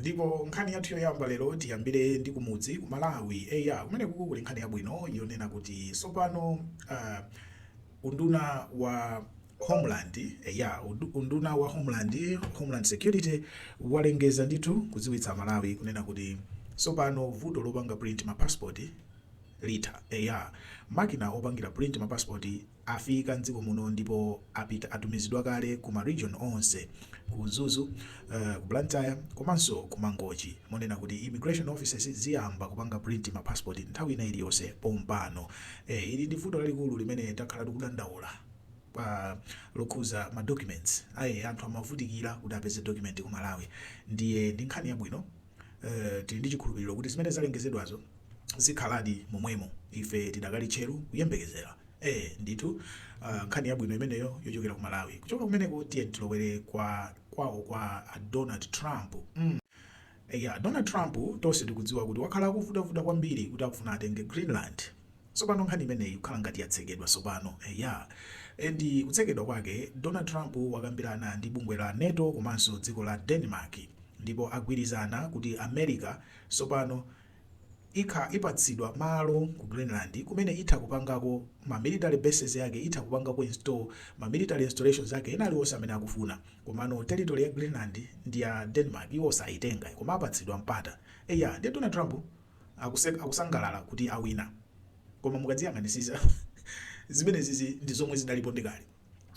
Ndipo nkhani yathu yoyamba lero tiyambire ndi kumudzi ku Malawi eya kumene kukuku kuli nkhani yabwino yonena kuti sopano uh, unduna wa Homeland eya unduna wa Homeland, Homeland Security walengeza ndithu kudziwitsa Malawi kunena kuti sopano vuto lopanga print ma passport litha eya makina opangira print ma passport afika m'dziko muno ndipo atumizidwa kale ku ma region onse ku Mzuzu, ku Blantyre komanso ku Mangochi monena kuti immigration offices ziyamba kupanga print ma passport nthawi ina iliyonse pompano. Eeh ili ndi vuto lalikulu limene takhala tikudandaula lokhuza ma documents ai anthu amavutikira kuti apeze document ku Malawi ndiye ndi nkhani yabwino tili ndi chikhulupiriro kuti zimene zalengezedwazo zikhaladi momwemo ife tidakali tcheru kuyembekezera. ee ndithu nkhani yabwino imeneyo yochokera ku malawi kuchoka kumeneko tiyeni tilowere kwawo kwa a donald trump mm eya donald trump tonse tikudziwa kuti wakhala akuvutavuta kwambiri kuti akufuna atenge greenland sopano nkhani imeneyi kukhala ngati yatsekedwa sopano eya ndi kutsekedwa kwake donald trump wakambirana ndi bungwe la nato komanso dziko la denmark ndipo agwirizana kuti america sopano ikha ipatsidwa malo ku Greenland kumene itha kupangako ma military bases yake itha kupangako install ma military installations ake ena aliwonse amene akufuna komano territory ya Greenland ndi ya Denmark iwo sayitenga koma apatsidwa mpata eya ndiye Donald Trump akusangalala kuti awina koma mukadziyang'anisisa zimenezizi ndi zomwe zidalipo ndi kale.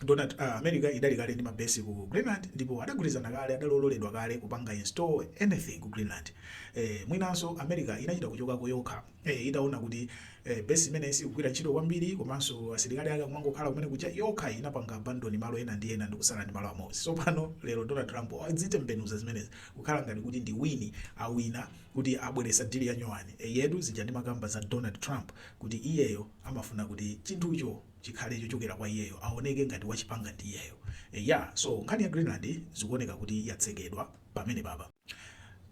Donald, Ah, America idali kale ndi ma base ku Greenland ndipo adagwirizana kale, adali ololedwa kale kupanga install anything ku Greenland. Eh, mwinanso America inachita kuchokako yokha, eh, itaona kuti, eh, base imeneyi sikugwira ntchito kwambiri komanso asilikali ake akumangokhala kumene kuja, yokha inapanga abandon malo ena ndi ena ndikutsala ndi malo amodzi. Sopano lero Donald Trump wazitembenuza zimenezi kukhala ngati kuti ndi win, awina kuti abweretsa deal ya nyowani. Eyetu, zija ndimakamba za Donald Trump kuti iyeyo amafuna kuti chinthucho. chikhale chochokera kwa iyeyo awoneke ngati wachipanga ndi iyeyo eya so nkhani ya Greenland zikuoneka kuti yatsekedwa pamenepapa.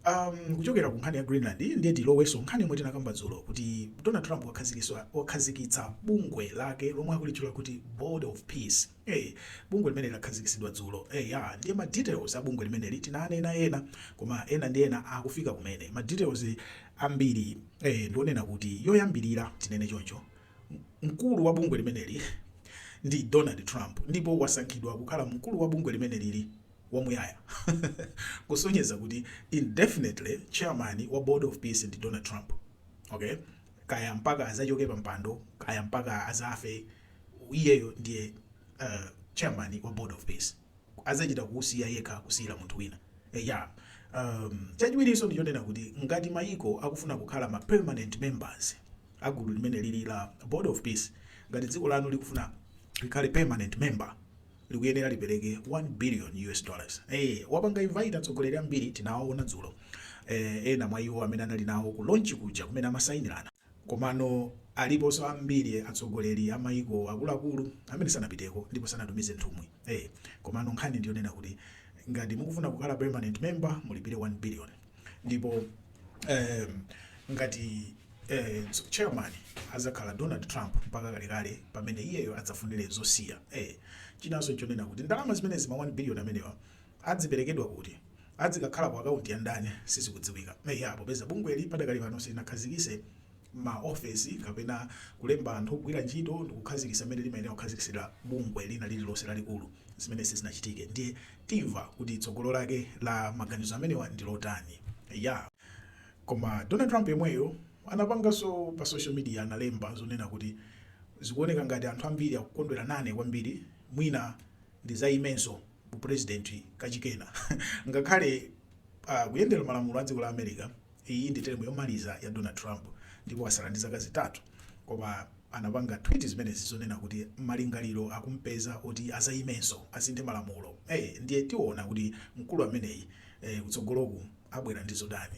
Amm kuchokera ku nkhani ya Greenland ndiye tilowenso nkhani yomwe tinakamba dzulo kuti Donald Trump wakhazikiswa wakhazikitsa bungwe lake lomwe akulitchula kuti Board of Peace ee bungwe limeneli lakhazikisidwa dzulo eya ndiye ma details a bungwe limeneli tinanena ena koma ena ndi ena akufika kumene ma details ambiri ee ndi onena kuti yoyambirira tinene choncho Mkulu wa bungwe limeneli ndi Donald Trump ndipo wasankhidwa kukhala mkulu wa bungwe limenelili wamuyaya, kusonyeza kuti indefinitely chairman wa Board of Peace ndi Donald Trump. Okay? Kaya mpaka adzachoke pampando, kaya mpaka adzafe, iyeyo ndiye uh, chairman wa Board of Peace. adzachita kusiya yekha kusiyira munthu wina. Eya. Um, chachiwirinso ndi chonena kuti ngati mayiko akufuna kukhala ma permanent members a gulu limene lili la Board of Peace, ngati dziko lanu likufuna likhale permanent member, likuyenera lipereke 1 billion US dollars. Eh, wapanga invite atsogoleri ambiri tinawaona dzulo. Eh, ena mwa iwo amene anali nawo ku launch kuja kumene amasainirana. Komano aliponso ambiri atsogoleri a maiko akuluakulu amene sanapiteko ndipo sanatumize nthumwi. Ee! Komano nkhani ndi yonena kuti ngati mukufuna kukhala permanent member mulipire 1 billion ndipo eeh ngati eeh chairman azakhala Donald Trump mpaka kalekale pamene iyeyo adzafunire zosiya. Eeh! Chinanso nchonena kuti ndalama zimenezi ma 1 billion amenewa. Adziperekedwa kuti? Adzikakhala ku akaunti ya ndani? Sizikudziwika. Eya, popeza bungweli padakali pano silinakhazikise ma ofesi kapena kulemba anthu ogwira ntchito ndikukhazikisa mmene limayenera kukhazikisidwira bungwe lina lililonse lalikulu, zimene sizinachitike, ndiye timva kuti tsogolo lake la maganizo amenewa ndi lotani. Eya. Koma Donald Trump yemweyo anapanganso pa social media analemba zonena kuti Zikuoneka ngati anthu ambiri akukondwera nane kwambiri, mwina ndizaimenso. u president kachikenanso ngakhale a kuyendera malamulo a dziko la America iyi ndi term yomaliza ya Donald Trump ndipo asala ndi zaka zitatu koma anapanga tweet zimenezi zonena kuti malingaliro akumpeza oti azayimenso asinthe malamulo eh ndiye tiona kuti mkulu ameneyi eh, kutsogoloku abwera ndi zotani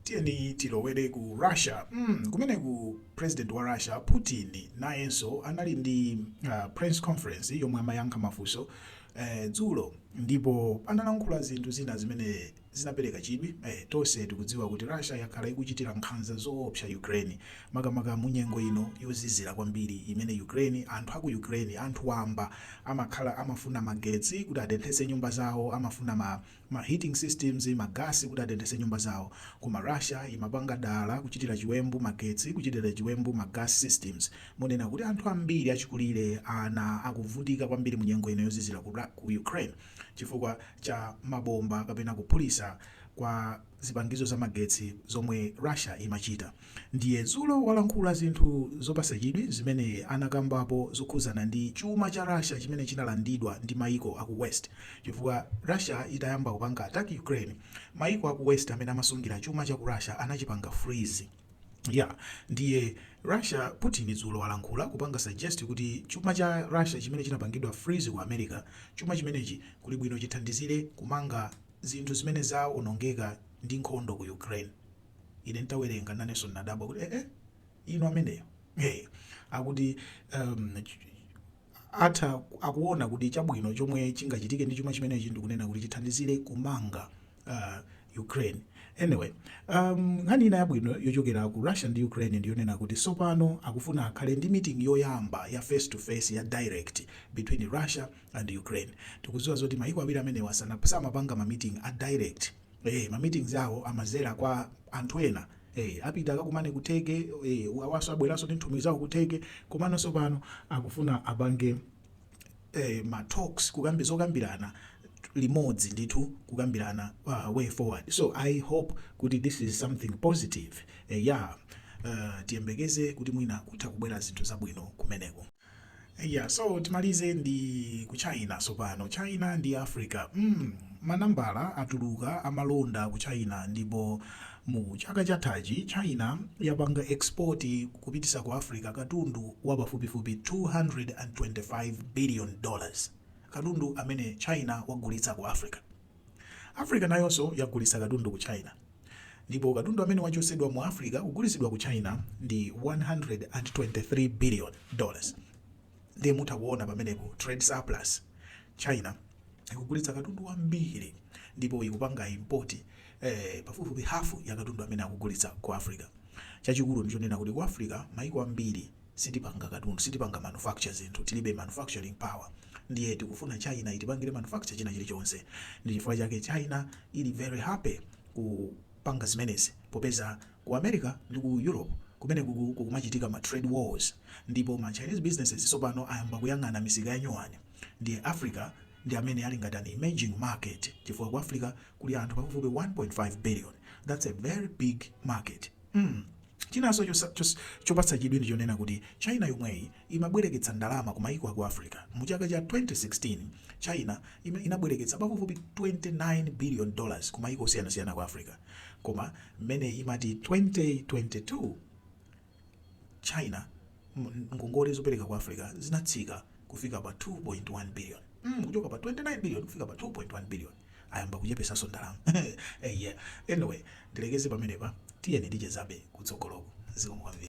Tiyeni tilowere ku Russia mm, kumeneku president wa Russia Putin nayenso anali ndi uh, press conference yomwe amayankha mafunso eh, dzulo ndipo analankhula zinthu zina zimene zinapereka chidwi eh, tonse tikudziwa kuti Russia yakhala ikuchitira nkhanza zoopsa Ukraine makamaka munyengo ino yozizira kwambiri imene Ukraine anthu aku Ukraine anthu wamba amakhala amafuna magetsi kuti atenthese nyumba zawo amafuna ma ma heating systems, ma gas kuti atenthese nyumba zawo. Koma Russia imapanga dala kuchitira chiwembu magetsi, kuchitira chiwembu ma gas systems. Monena kuti anthu ambiri achikulire, ana akuvutika kwambiri mu nyengo ino yozizira ku Ra, ku Ukraine chifukwa cha mabomba kapena kuphulisa kwa. zipangizo za magetsi zomwe Russia imachita ndiye zulo walankhula zinthu zopasa chidwi zimene anakambapo zokhuzana ndi chuma cha Russia chimene chinalandidwa ndi maiko aku west chifukwa Russia itayamba kupanga attack Ukraine maiko aku west amene amasungira chuma chaku Russia anachipanga freeze yeah ndiye Russia Putin zulo walankhula kupanga suggest kuti chuma cha Russia chimene chinapangidwa freeze ku America chuma chimenechi kuli bwino chithandizire kumanga zinthu zimene zawonongeka ndi nkhondo ku Ukraine. Ine ntawerenga nanenso nnadabwa kuti eeh inu ameneyo eeh akuti ehm atha akuona kuti chabwino chomwe chingachitike ndi chuma chimenechi ndikunena kuti chithandizire kumanga aah Ukraine. Anyway ehm nkhani ina yabwino yochokera ku Russia ndi Ukraine ndiyonena kuti sopano akufuna akhale ndi meeting yoyamba ya face to face ya direct between Russia and Ukraine tikuziwa zoti mayiko awiri amenewa samapanga ma meeting a direct ee ma meetings awo amazera kwa anthu ena ee apita akakumane ku Turkey ee awaso abweraso ndi nthumwi zawo ku Turkey komano sopano akufuna apange eh, ma talks kukambi zokambirana limodzi ndithu kukambirana uh, way forward so i hope kuti this is something positive eh, yeah uh, tiyembekeze kuti mwina kutha kubwera zinthu zabwino kumeneko Eya so timalize ndi ku China sopano. China ndi Africa mm manambala atuluka amalonda ku China ndipo mu chaka chathachi China yapanga export kupitisa ku Africa katundu wa pafupifupi 225 billion dollars katundu amene China wagulitsa ku Africa. Africa nayoso yagulitsa katundu ku China. ndipo katundu amene wachotsedwa mu Africa kugulitsidwa ku China ndi 123 billion dollars ndiye mutha kuona pamenepo trade surplus China ikugulitsa katundu wambiri ndipo ikupanga import eh, pafupifupi hafu ya katundu amene akugulitsa ku Africa chachikulu ndichonena kuti ku Africa maiko ambiri sitipanga katundu, sitipanga manufacture zinthu, tilibe manufacturing power ndiye tikufuna China itipangire manufacture china chilichonse ndi chifukwa chake China ili very happy kupanga zimenezi popeza ku America ndi ku Europe kumeneku kukumachitika ma trade wars ndipo ma Chinese businesses tsopano ayamba kuyang'ana misika ya nyuwani ndiye Africa ndi amene ali ngati an emerging market chifukwa ku Africa kuli anthu pafupifupi 1.5 billion that's a very big market mm. Chinanso chopatsa chidwi ndi chonena kuti China yomweyi imabwereketsa ndalama ku mayiko a ku Africa. Mu chaka cha 2016, China inabwereketsa pafupifupi 29 billion dollars ku mayiko osiyanasiyana a ku Africa. Koma mmene imati 2022, China ngongole zopereka ku Africa zinatsika kufika pa 2.1 billion, kuchoka pa 29 billion kufika pa 2.1 billion. ayamba kuchepesaso ndalama eya anyway ndilekeze pamenepa tiyeni tichezabe kutsogoloku zikomo kwambiri.